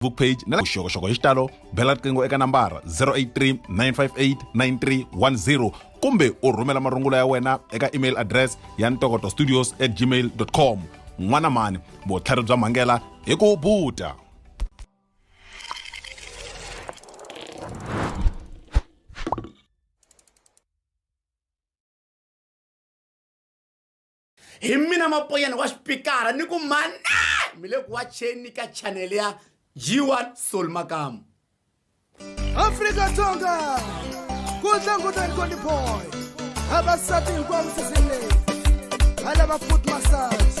facebook page na vuxokoxoko hi xitalo bela riqingho eka nambara 083 958 9310 kumbe u rhumela marungulo ya wena eka email address ya ntokoto studios at gmail com n'wana mani vutlhari bya mhangela hi ku buta hi mina mapoyana wa xipikara ni ku mane mi le ku wacheni ka chanele ya g1 sol makamu afrika dzonga ku tlangutani koni boy vavasati hinkwavo sisini leyi va lava foot massage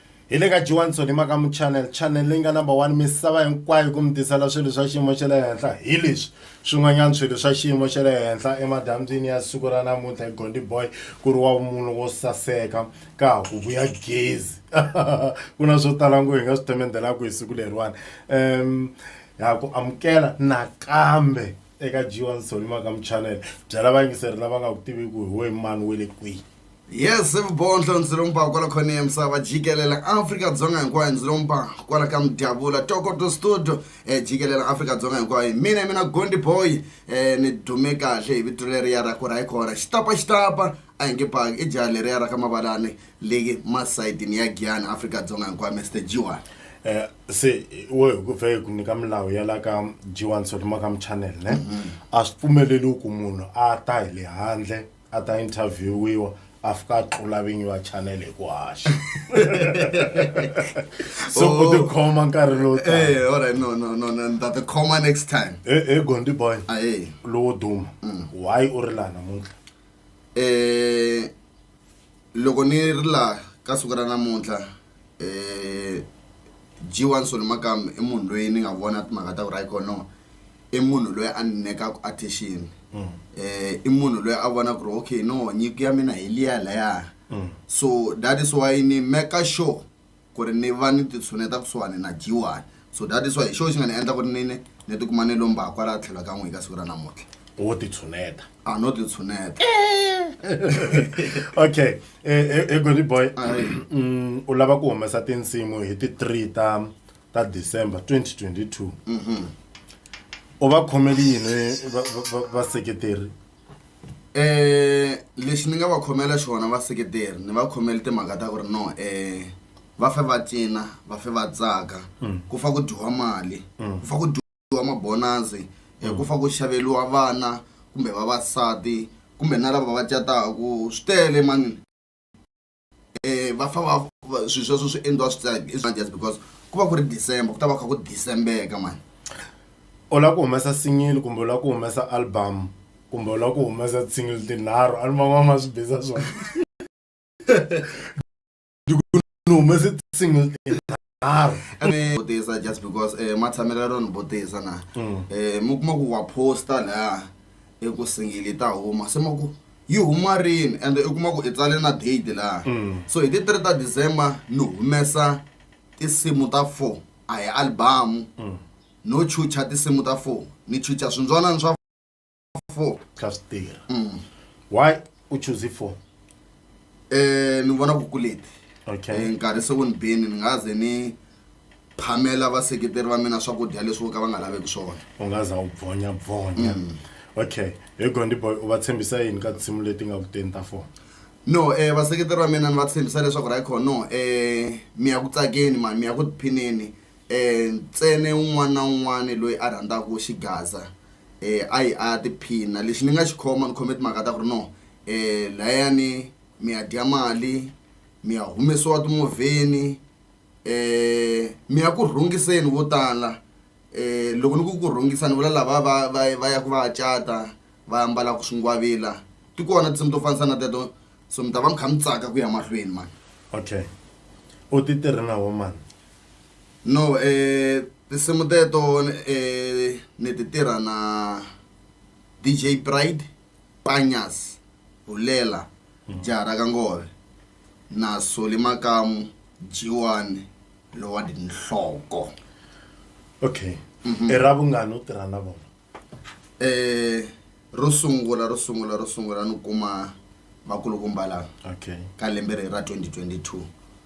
hi le ka jiwanson hi maka muchannel channel leyi nga number one misava hinkwayo ku mi tisela swilo swa xiyimo xa le henhla hi leswi swin'wanyana swilo swa xiyimo xa le henhla emadambyini ya siku ra namuntlha hi gondi boy ku ri wa vumunhu wo saseka ka ha ku vuya gezi ku na swo tala ngo hi nga swi temendelaku hi siku leriwani um ha ku amukela nakambe eka jiwanson hi maka muchannel byela vayingiseri lava nga ku tiviku hi we mani we le kwihi yes vubondlo ndzi lomba kwala khona ya misava jikelela afrika-dzonga hinkwayo ndzi lomba kwala ka mudyavula tokoto studio um eh, jikelela afrika-dzonga hinkwayo mina mina gondi boy um eh, ni dume kahle hi vito leriya ra ku ra hi khona xitapa xitapa a hi nge paki i jaha leriya ra ka mavalani leyi masayitini ya giyani afrika-dzonga hinkwayo mr jiwani um eh, se wo hi ku pfa hi ku nyika milawu ya la ka jiwani sotoma ka muchanel ne mm-hmm. a swi pfumeleli ku munhu a ta hi le handle a ta interviewiwa a fika a tlula vinyi va channel hi ku haxa so u tikhoma nkarhi lowu taka. Eh, all right, no, no, no, no, ndza tikhoma next time. he he gondi boy Ahee. lowo duma why u ri laha namuntlha Eh, loko ni ri laha ka siku ra namuntlha um g one solo makamu i munhu loyi ni nga vona timhaka ta ku ra ikhonomi i munhu loyi a ni nyikaku attention um i munhu loyi a vona ku ri okay no nyiko ya mina hi liya laya so that is why ni maker sure ku ri ni va ni ti tshuneta kusuhani na Jiwani so that is why hi xona xi nga ni endla ku ri nini ni ti kuma ni lomba kwala tlhelo ka n'wina ka siku ra namuntlha wo ti tshuneta a no ti tshuneta okay egoli boy mm, u lava ku humesa tinsimu hi ti 3 ta ta december 2022 u va khomeli yini vaseketeri lexi ni nga va khomela xona vaseketeri ni va khomela timhaka ta ku ri no um va fe va cina va fe va tsaka ku fa ku dyiwa mali ku fa ku dyiwa mabonasi um ku fa ku xaveriwa vana kumbe vavasati kumbe na lava va cataku swi tele mani. um va famba swilo sweswo swi endliwa swi tsaka i swa just because ku va ku ri december ku ta va kha ku decembeka mani u lava ku humesa single kumbe u lava ku humesa album kumbe u lava ku humesa single tinharhu a ni van'wana ma swi biza swona ni humese single tinharhu nharhu ene vutisa just because eh ma tshamela ro ni vutisa na eh mi kuma ku wa posta la i ku singili ta huma se ma ku yi huma rini and i kuma ku i tsale na date la so hi ti 3 ta December ni humesa tinsimu ta 4 a hi album no chucha tinsimu ta 4 ni chucha swindzwanani swa four kha swi tirha mm. why u choose four eh ni vona ku kuleti okay eh, nkarhi se wu ni bini ni nga ze ni phamela vaseketeri va mina swakudya leswi vo ka va nga laveki swona u nga za u bvonya bvonya mm. okay hi gondi boy u va tshembisa yini ka tinsimu leti nga ku teni ta four no eh vaseketeri va mina ni va tshembisa leswaku ra ikhono eh mi ya ku tsakeni mani mi ya ku tiphineni ntsena un'wana na un'wana loyi a rhandzaka xigaza a yi a ya tiphina lexi ni nga xi khoma ni khome timhaka ta ku ri no layani mi ya dya mali mi ya humesiwa timovheni mi ya ku rhungiseni vo tala loko ni ku ku rhungisa ni vula lava va va va ya ku va ya cata va ambalaka swingwavila ti kona tinsimu to fanisa na teto so mi ta va mi kha mi tsaka ku ya mahlweni mhani okay u ti tirhi na wo mhani. no eh tinsimu teto eh ni ti tirha na DJ Pride Panyas Hulela Jara ka Ngove na Soli Makamu Jiwani lowa tinhloko okay i ra vungani u tirha na vona eh ro sungula ro sungula ro sungula ni kuma vakulukumba lava okay ka lembe leri ra 2022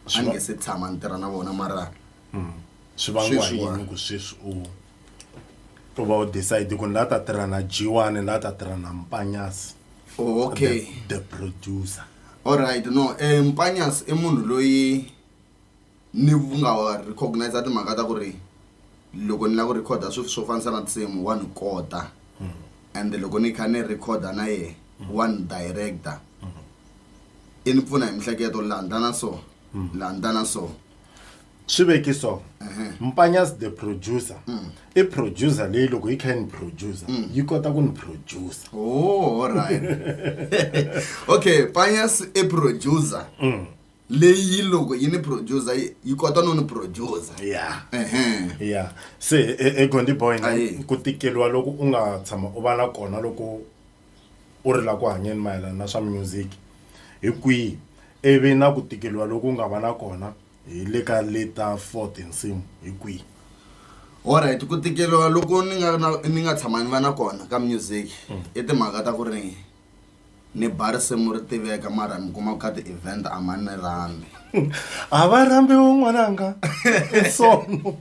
a Swi ni va- nge se tshama ni tirha na vona mara Mm. swi vangiwa hi Sweswiwa. yini ku sweswi u u va u decide ku ni la ta tirha na jiwani la ta tirha na mpanyasi oh, okay the, the producer alright no eh, mpanyas i munhu loyi Ni nga recognize timhaka ta ku ri loko ni lava ku record-a swilo swo fanisa na tinsimu wa ni kota and loko ni kha ni record-a na yehe wa ni direct-a i ni pfuna hi mihleketo laha ni ta na so laha ni ta na so swi veki so mpanyas the producer i producer leyi loko yi kha yi ni producer yi kota ku ni producer oh alright okay panyas i producer leyi loko yi ni producer yi- yi kota no ni producer ya Ehe. ya se e- e gondi boy Aye. ku tikeliwa loko u nga tshama u va na kona loko u ri la ku hanyeni mayelana na swa music hi kwihi ivi na ku tikeliwa loko u nga va na kona hi le ka leta fort nsimu hi kwihi alright ku tikeliwa loko ni nga na- ni nga tshama ni va na kona ka music i timhaka ta ku ri Ni ba risimu ri tiveka mara mi kuma ku ka ti-event a ma ni rhambi. A va rhambiwi n'wananga i sono.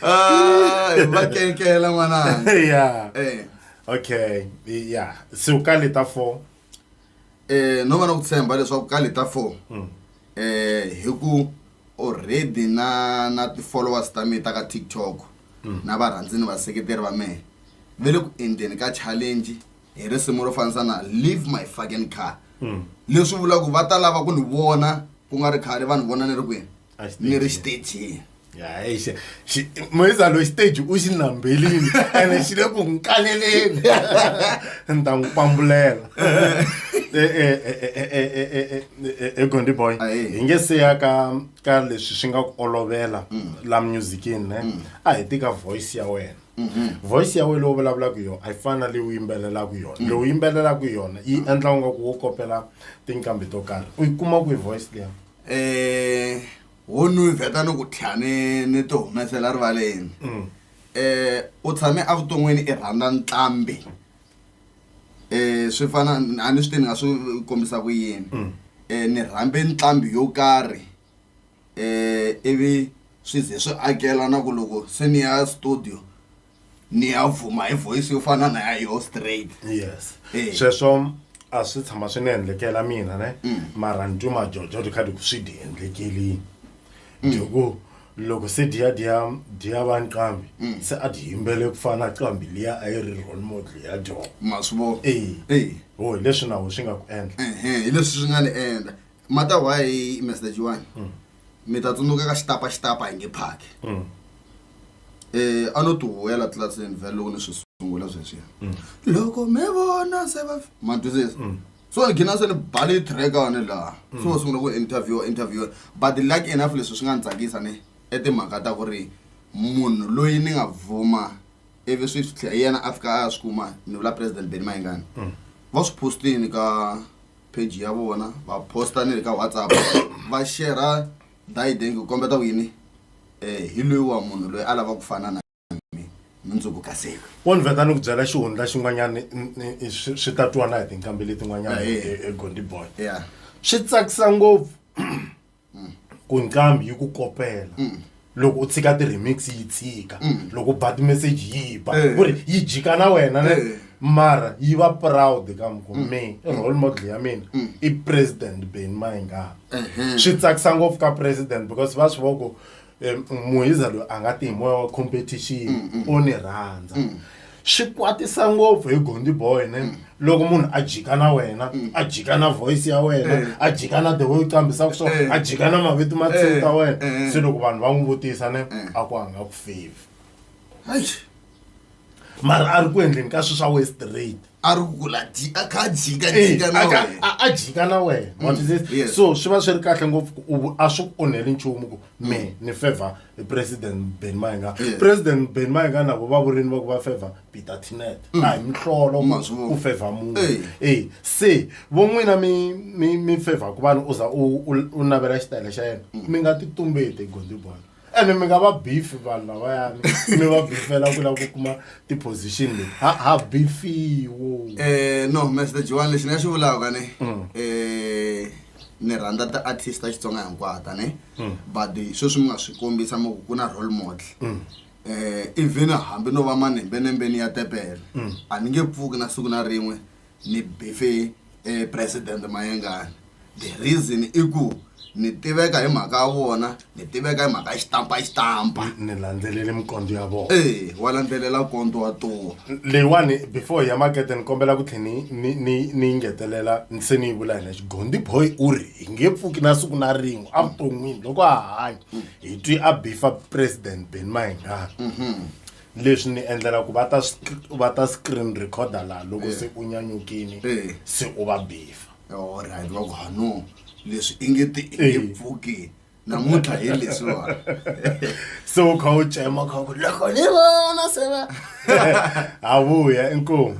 Ah, hi va kenkela n'wananga. Yeah. Eh. Okay, yeah. Siku ka le ta four. um no va na ku tshemba leswaku ka leta four um hi ku already na na ti-followers ta mina ta ka tiktok na varhandzi ni vaseketeri va mehe ve le ku endleni ka challenge hi risimu ro fanisa na leave my fucking car leswi vulaka ku va ta lava ku ni vona ku nga ri khale va ni vona ni ri kwini ni ri xitejini hayixe moyisa loyi stage u xi nambelini ene xi le ku n'wi kaleleni ni ta n'wi pambulela egondi boy hi nge se ya ka ka leswi swi nga ku olovela la musicini ne a hi tika voice ya wena voice ya wena leyi u vulavulaka yona a yi fani na leyi u yimbelelaka yona leyi u yimbelelaka yona yi endla nga ku wo kopela tinqambi to karhi u yi kuma kwihi voice leyi eh ho nu vheta ni ku tlha ni ni ti humesela rivaleni Mm. eh u tshame evuton'wini i rhandza ntlambi eh swi fana a ni swi tivi ni nga swi kombisa ku yini Mm. eh ni rhambe ntlambi yo karhi eh ivi swi ze swi akela na ku loko se ni ya studio niyavuma hi voice yo fana na ya yo straight yes Eh. sweswo a swi tshama swi ni endlekela mina ne Mm. mara ni twe majojo ti kha ti ku swi di endlekelini Mm. tiku loko se diya diya diya va nqambi Mm. se a ti yimbele ku fana na qambi liya a yi ri role model ya dyona ma swi vona e ho hi leswi nawu swi nga ku endla ehe hi leswi swi nga ni endla mata why mr jiwani mi ta tsundzuka ka xitapa xitapa hi nge phaki um a no tihuwela tlilasini vhele loko ni swi sungula sweswiya loko mi vona se va ma twisisa so ni gina se ni bale trackane laha so va sungula ku interview interview but luck enough leswi swi nga ni tsakisa ni i timhaka ta ku ri munhu loyi ni nga vuma ivi swi swi tlhe- hi yena a fika a ya swi kuma ni vula president benny mayengani va swi postini ka page ya vona va posta ni le ka whatsapp va shera dideng ku kombeta ku yini um hi loyi wa munhu loyi a lava ku fana na mi mundzuku ka seko wonve ka ni ku byela xihundla xin'wanyana swi ta twana hi tinkambi letin'wanyana egondi boy swi tsakisa ngopfu ku nqambi yi ku kopela loko u tshika ti-remix yi tshika loko u ba ti-message yi ba Eh. ku ri yi jika na wena ne Eh. mara yi va proud ka mi ku me i role model ya mina i president beni mayingani swi tsakisa ngopfu ka president because va swi voko Eh, muhiza loyi a nga ti hi moya wa competition mm, mm. o ni rhandza mm. swi kwatisa ngopfu hi gondi boy ne loko munhu a jika na wena a jika na voice ya wena eh. a jika na the way u qambisaka swona eh. a jika na mavito ma tsini ta wena se loko vanhu va n'wi vutisa ne a ku a nga ku favor mara a ri ku endleni ka swi swa west rate a ri ku la dyi- a kha a jika Eh, jika a na ka- wena a- a jika na wena What is this? yes. so swi va swi ri kahle ngopfu ku u- a swi ku onheli nchumu ku me ni favor i president ben mainga Yes. president ben mainga navo va vurini va ku va favor peter tinet a hi mihlolo ku- Ma swi vona. ku favor munhu Eh. e se vo n'wina mi mi mi favor ku vanhu u za u u- u navela xitayele xa yena mi nga ti tumbeti gondibona ene mi nga va beef vanhu lavayani mi va beefela ku lava ku kuma ti-position leti ha ha beefiwo Eh, no mr joan lexi ni nga xi vulaka ne Mm. eh, ni rhandza ti-artist ta xitsonga hinkwata ne Mm. but sweswi mi nga swi kombisa mo ku ku na role model Mm. eh even hambi no va manembenembeni ya tepele Mm. a ni nge pfuki na siku na rin'we Ni beefe President Mayengani the reason i ku ni tiveka hi mhaka ya vona ni tiveka hi mhaka ya xitampa xitampa ni landzelele minkondzo ya vona eyi wa landzelela kondzo wa tuwa leyiwani before hi ya makete ni kombela ku tlhela ni ni ni ni yi ngetelela ni se ni yi vula hina xigondi boy u ri hi nge pfuki na siku na rin'we evuton'wini loko a hanya hi twi a beefa president ben mayengani leswi ni endlela ku va ta va ta screen recorder laha loko se u nyanyukile se u va bifa olright va ku hanu leswi i nge ti i nge pfuki namuntlha hi leswiwa se u kha u cema kha ku loko ni vona se va ha vuya inkomu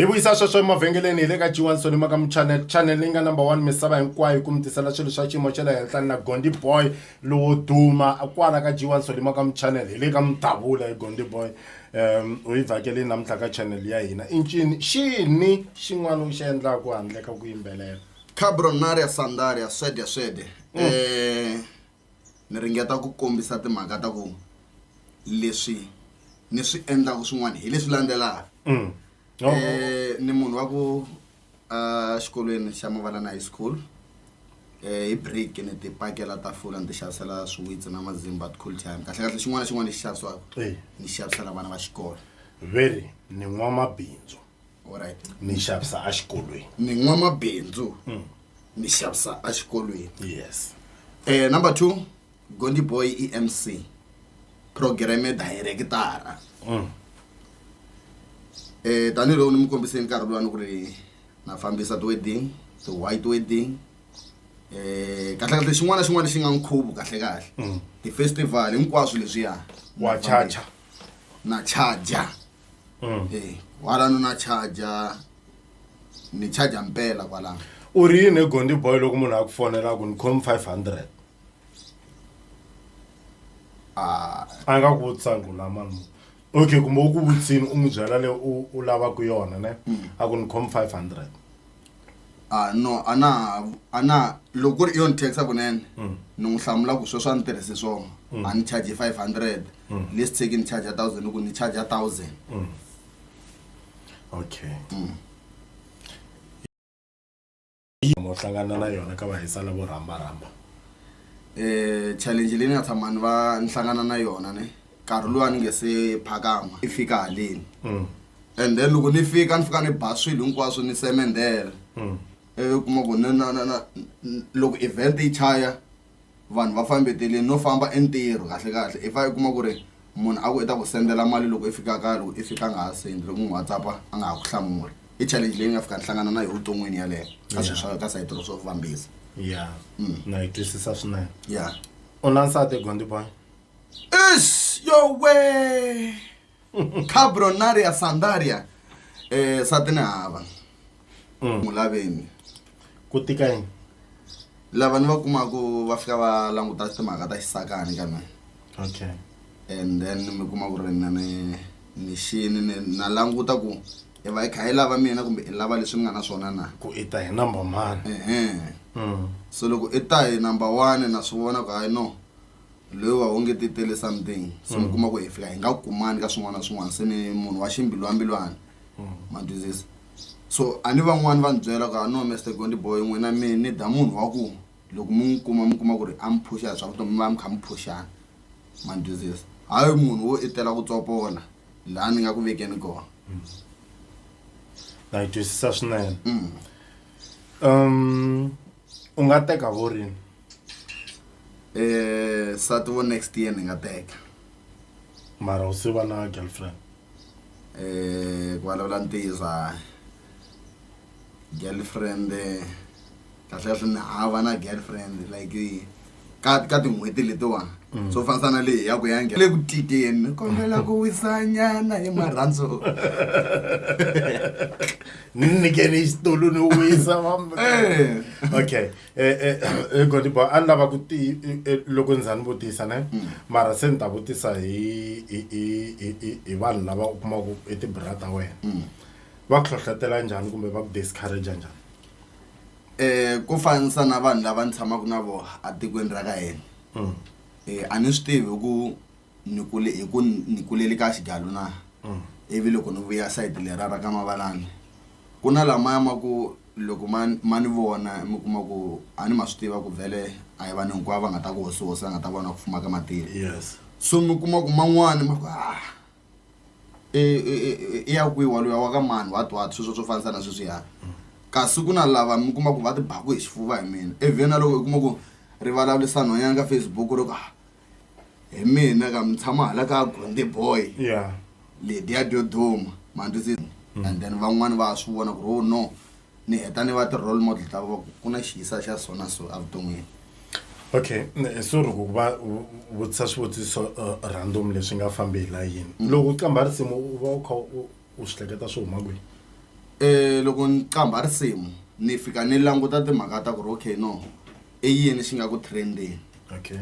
hi vuyisa sweswo emavhengeleni hi le ka g1 sonima ka muchanel chanel leyi nga number one misava hinkwayo ku mi tisela swilo swa xiyimo xa le henhla na gondi boy lowo duma kwala ka g1 sonima ka muchanel hi le ka mudabula hi gondi boy um u yi vhakele namuntlha ka chanel ya hina i ncini xini xin'wana u xi endlaku handle ka ku yimbelela cabronaria sandaria swede swede um mm. eh, ni ringeta ku kombisa timhaka ta ku leswi ni swi endlaka swin'wana hi leswi landzelaka mm. no. e, eh, ni munhu wa ku uh, xikolweni xa mavalana high school eh, hi break ni ti pakela tafula ni ti xavisela swiwitsi na mazimba cool time kahle kahle xin'wana na xin'wana lexi xavisiwaka ni xavisela vana va xikolo very ni n'wamabindzu Alright. ni xavisa exikolweni mi n'wamabindzu mi xavisa exikolweni yes Eh, number two gondi boy i mc programe directara um Eh, tanihiloko ni mi kombise nkarhi lowani ku ri na fambisa ti-wedding ti-white wedding um kahlekahle xin'wana na xin'wana lexi nga nkhuvo kahlekahle ti-festival hinkwaswo leswiya wa chacha na charger Mm. Eh, kwalano na charger ni charger mpela kwalano u ri yini egondi boy loko munhu a ku fonela ku ni khom 500 ah a nga ku vutisa ngo la mani mu- okay kumbe u ku vutisini u n'wi byela leyi u u lavaka yona ne a ku ni khom 500 ah no a na ha a na ha- loko ku ri i yona tax kunene ni n'wi hlamula ku sweswo a ni tirhise swona a ni charge five hundred less take ni charge a thousand ni ku ni charge a thousand okay mo hlangana na yona ka vahisa lavo rhambarhamba um challenge leyi ni nga tshama ni va ni hlangana na yona ne nkarhi luwa ni nge se phakama i fika haleni mm. and then loko ni fika ni fika ni ba swilo hinkwaswo ni semendela mm. ivi kuma ku loko event yi chaya vanhu va fambeteleni no famba entirho kahle kahle i fa i kuma ku ri munhu a ku i ta ku sendela mali loko i fika kaya loko i fika a nga ha sendi loko n'wi whatsapp a nga ha ku hlamuli i challenge leyi nga fika ni hlangana na yo vuton'wini yaleyo ka swilo swa ka sayitiro swo fambisa ya mm. na yi twisisa swinene ya u na nsati gondiboy Is yowe cabronaria sandaria eh sati ni hava Mm. mu laveni ku tika yini lava ni va kumaku va fika va languta timhaka ta xisakani ka mina okay and then mi kuma ku ri na ni ni xini ni- na languta ku i va i kha i lava mina kumbe i lava leswi ni nga na swona na ku i ta hi number mani ehe Mm. so loko i ta hi number one na swi vona ku hayi no loyi wa onge ti tele something se mi kuma ku hi fika hi nga kumani ka swin'wana na swin'wana se ni munhu wa ximbilwambilwana ma twisisa so a ni van'wani va ni byela ku a no mester gondi boy n'wina mi ni da munhu wa ku loko mi n'wi kuma mi kuma ku ri a mi phuxa hi swa vutomi mi va mi kha mi phuxana ma ni twisisa hayi munhu wo i tela ku tsopola laha ni nga ku vekeni kona na yi twisisa swinene Mm. um u nga teka vo rini Eh, sati wo next year ni nga teka. mara u se va na girlfriend Eh, ku vulavula ntiyiso hayi. Girlfriend eh, kahle kahle ni hava na girlfriend like eh, ka ka tin'hweti letiwa. Mm. Swo fanisa na leyi ya ku ya nge- le ku tikeni ni kombela ku wisa nyana hi marhandzu. ni nyikeni xitulu ni wisa Eh. okay e, e, e godibo a ni lava ku ti loko ni za ni vutisa ne mm. mara se ni ta vutisa hi hi hi hi hi vanhu lava u kumaku i tibra ta wena mm. va ku hlohlotela njhani kumbe va ku discourage njhani um ku fanisa na vanhu lava ni tshamaka na vona atikweni ra ka hina um a ni swi tivi ku ni kule hi ku ni kulele ka xigalu na mm. ivi loko ni vuya sayiti lera ra ka mavalani ku na lamaya ma ku loko ma ma ni vona mi kuma ku a ni ma swi tiva ku vhele a hi vanhu hinkwavo va nga ta ku hosihosi va nga ta vona ku fuma ka matilo yes so mi kuma ku man'wani ma ku ah e, e, e, i ya kwihi waluya wa ka mani wa twat sweswo swo fanisa na sweswiya mm. kasi ku na lava mi kuma ku va tibaku hi xifuva hi mina evheni na loko i kuma ku rivalalisanoyanga facebook ro ku ah hi mina ka mi tshama hala ka gonde boy yeah lediya dyo duma mandzi mm. and then van'wani va swi vona ku ri oh no ni heta ni va ti-role model ta va ku na xiyisa xa sona so evuton'wini okay so ri ku va vutisa swivutiso uh, random leswi nga fambi hi la yini mm. loko u qambha risimu u va u kha u swi hleketa swi huma kwihi um loko ni qambha risimu ni fika ni languta timhaka ta ku ri okay no i yini xi nga ku trendeni okay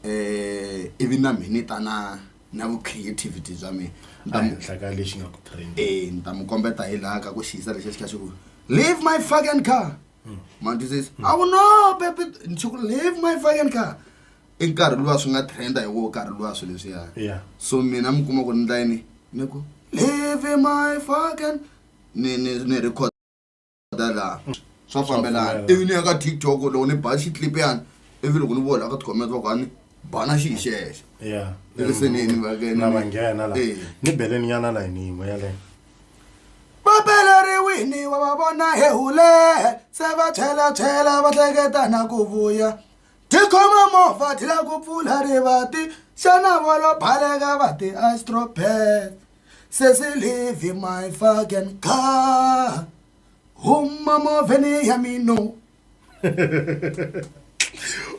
eh ivi na mina ni ta na na vu creativity bya mina Ni ta mu- ehenhla ka lexi nga ku trend eh ni ta mu kombeta hi laha ka ku xiyisa lexi xi kha xi ku leave my fucking car mantu says i will no baby ni xi ku leave my fucking car i nkarhi luwa swi nga trenda hi wo nkarhi luwa swilo leswiya Yeah. so mina mi kuma ku ni ndla yini ni ku leave my fucking ni ni ni record ta laha mm. swa fambelana ivi ni ya ka tiktok loko ni ba xiclip yani ivi loko ni vona ka ticoment va ku ani bana xi hi xexe eriseneni vakena va nghena la eh. ni beleni nyana la yini yin'we yaleyo vapeleriwini wa va vona he hule se va chela chela va hleketana ku vuya tikhoma movha ti la ku pfula rivati xana volo baleka va ti astropet sesilivi my fucking car huma movheni ya mino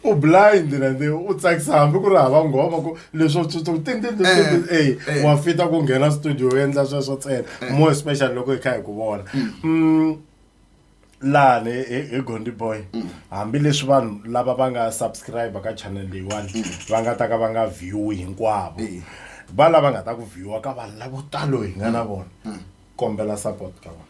u blind na ndi u tsakisa hambi ku ri hava nghoma ku leswo tsutsum tin tin tin tin Eh, ey eh. wa fita ku nghena studio u endla sweswo ntsena more especially loko hi kha hi ku vona Mm, laha ni hi hi gondi boy hambileswi vanhu lava va nga subscribe ka channel leyiwani va nga ta ka va nga viewi hinkwavo Eh. va lava nga ta ku viewa ka vanhu lavo talo hi nga na vona kombela support ka vona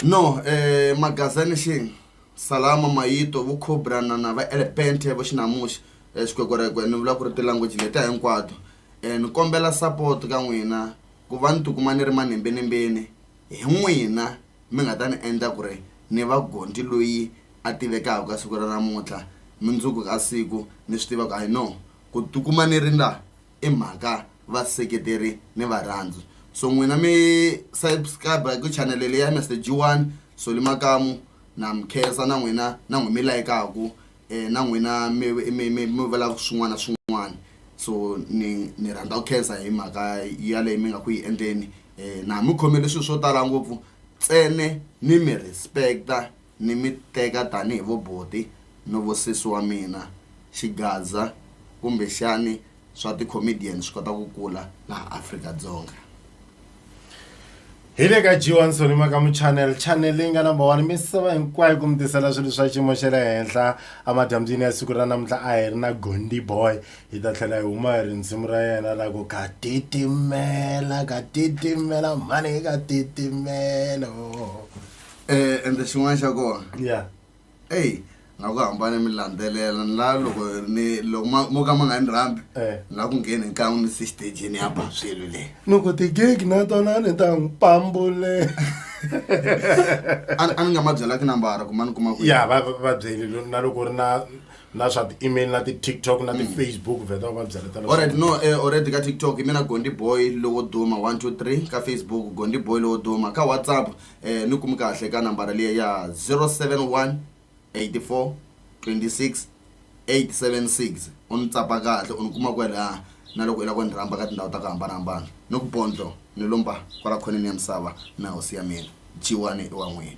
no eh, magazini xing salama mayito vo cobra na na va elepente vo xinamuxi eh, xikwekwerekwe ni vula ku ri ti-language letiya hinkwato eh, ni kombela support ka n'wina ku va ni tikuma ni ri manembenimbeni hi n'wina mi nga ta ni endla ku ri ni va gonti loyi a tivekaka ka siku ra namuntlha, mundzuku ka siku ni swi tiva ku I know ku tikuma ni ri la i mhaka vaseketeri ni varhandzi. So n'wina mi subscribe ku chanele leyi ya Mister G1 Solly Makamu na mi khensa na n'wina na n'wina mi layikaku na n'wina mi mi mi mi vulaka swin'wana na swin'wana so ni ni rhandza ku khensa hi mhaka yaleyo mi nga ku yi endleni Eh, na mi khomele swilo swo tala ngopfu tsene ni mi respecta ni mi teka tanihi vo boti no vo sesi wa mina xigaza kumbexani swa ti-comedian swi kota ku kula laha afrika-dzonga hi le ka g1 sonima ka muchanel chanel leyi nga number one misava hinkwayo ku mi tisela swilo swa xiyimo xa le henhla emadyambyini ya siku ra namuntlha a hi ri na gondi boy hi ta tlhela hi huma hi ri nsimu ra yena ra ku ka titimela ka titimela mhani ka titimelo Eh, ende xin'wana xa kona ya eyi nga ku hambane mi landzelela ni la loko ni loko ma- mo ka ma nga ni rhambi Eh. ni la ku ngheni nkan'we ni se xitejini ya ba swilo leyi loko tigegi na tona ni ta n'wi pambule a a ni nga ma byelaki nambara ku ma ni kuma kwihi. ya va va- va byeli lo- na loko u ri na na swa ti-email na ti-tiktok na ti-facebook mm. vheta va va byela tala alright no eh, already ka tiktok mina gondi boy lowo duma 123 ka facebook gondi boy lowo duma ka whatsapp eh, ni kumi kahle ka nambara liya ya 071 84 26 876 u ni tsapa kahle u ni kuma kwelaha na loko i lava ku ni rhamba ka tindhawu ta ku hambanahambana ni ku bondlo ni lomba kwala khoneni ya misava na hosi ya mina jiwani i wa n'wina